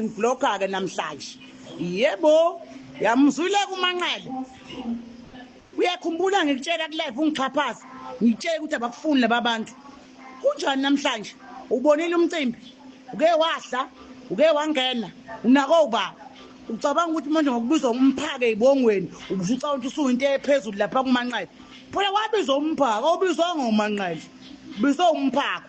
ngibloka ke namhlanje yebo yamzwile kumanqele uyakhumbula ngikutshela kulive ungixhaphaza ngitshela ukuthi abakufuni laba bantu kunjani namhlanje ubonile umcimbi uke wadla uke wangena unako ubaba ucabanga ukuthi manje ngokubizwa umphake ibongweni ubusuca ukuthi usuyinto ephezulu lapha kumanqele phela wabizwa umphaka obizwa ngomanqele bizwa umphaka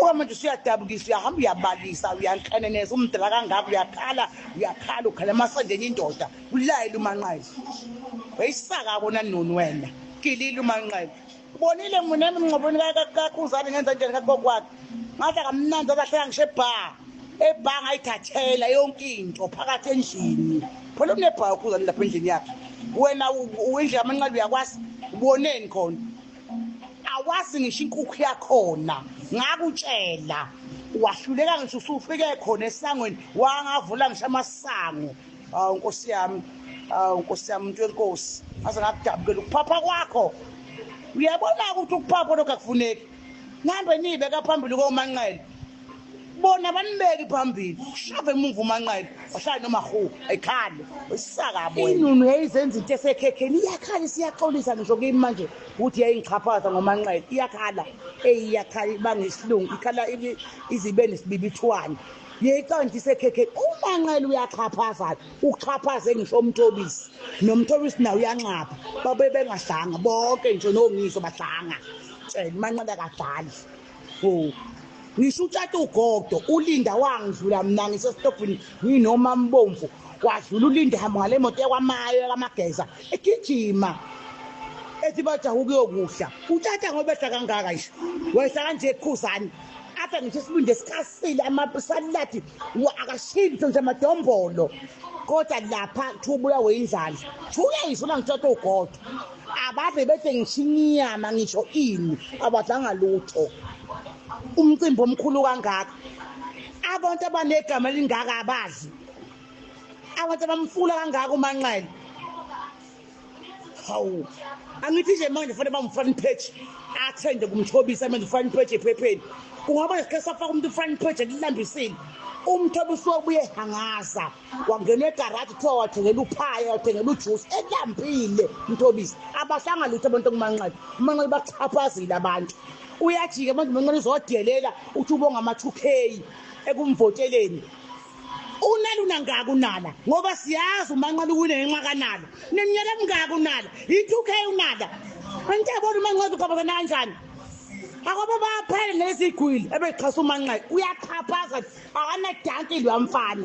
uka manje usuyadabukisa uyahamba uyabalisa uyanhlaneneza umdala kangaka uyakhala uyakhala ukhala emasandeni indoda ulayela umanqele wayisaka kona noni wena gilile umanqele ubonile mina emngcobweni kakhuzane ngenza njani kakokwakhe ngathi akamnandi abahleka ngisho ebha ebha ngayithathela yonke into phakathi endlini phela unebha ukhuzane lapha endlini yakhe wena indlela amanqele uyakwazi uboneni khona awazi ngisho inkukhu yakhona ngakutshela wahluleka ngisho usufike khona esangweni wangavula ngisho amasango awu nkosi yami awu nkosi yami umuntu wenkosi aze ngakudabukela ukuphapha kwakho uyabona ukuthi ukuphapha lokhu akufuneki nihambe niyibeka phambili komanqele bona banibeki phambili ushave emuva umanqele wahlala nomahuwa ekhale isakabo inunu yayizenza into esekhekheni iyakhala isiyaxolisa ngisho kimi manje ukuthi yayingichaphaza ngomanqele iyakhala eyi iyakhala ibanga isilungu ikhala izibe nesibibithwane yeyiqonda isekhekheni umanqele uyaxhaphaza-ke uxhaphaze ngisho umthobisi nomthobisi nawo uyanxapha babe bengadlanga bonke nje noongiso badlanga tshela umanqele akadlali Oh. Ngisho utshata ugodo ulinda wangidlula mina ngisesitobhini nginoma mbomvu wadlula ulinda hamba ngale moto yakwamayo kamageza egijima ethi bajaha ukuyokudla utshata ngoba ehla kangaka nje wehla kanje ekhuzane apha ngisho isibindi esikhasile amasaladi akashintshwe nje madombolo kodwa lapha kuthiwa ubulawe indlala kuthiwa uyayisho uma ngitshata ugodo abave bethe ngisho inyama ngisho ini abadlanga lutho umcimbi omkhulu kangaka abantu abanegama elingaka abazi abantu abamfula kangaka umanxele hawu angithi nje manje fanele bamufani page athende kumthobisa manje ufani page ephepheni kungaba nesikhathi safaka umuntu ufani page elilambisile umthobi usobuye hangaza wangena egaraji kuthiwa wathengela uphaya wathengela ujuice elambile umthobisi abahlanga lutho abantu okumanqele umanqele bachaphazile abantu uyajike manje umanqele uzodelela uthi ubonga ama-2 k ekumvoteleni unalo unangaka unala ngoba siyazi umanqoba uwine ngenxa kanala neminyaka emingaka unala yi-two k unala angithi yabona umanqoba uqabazana kanjani akwaba baphele nezigwili ebexhasa umanqeka uyaxhaphaza akanadanki lwamfana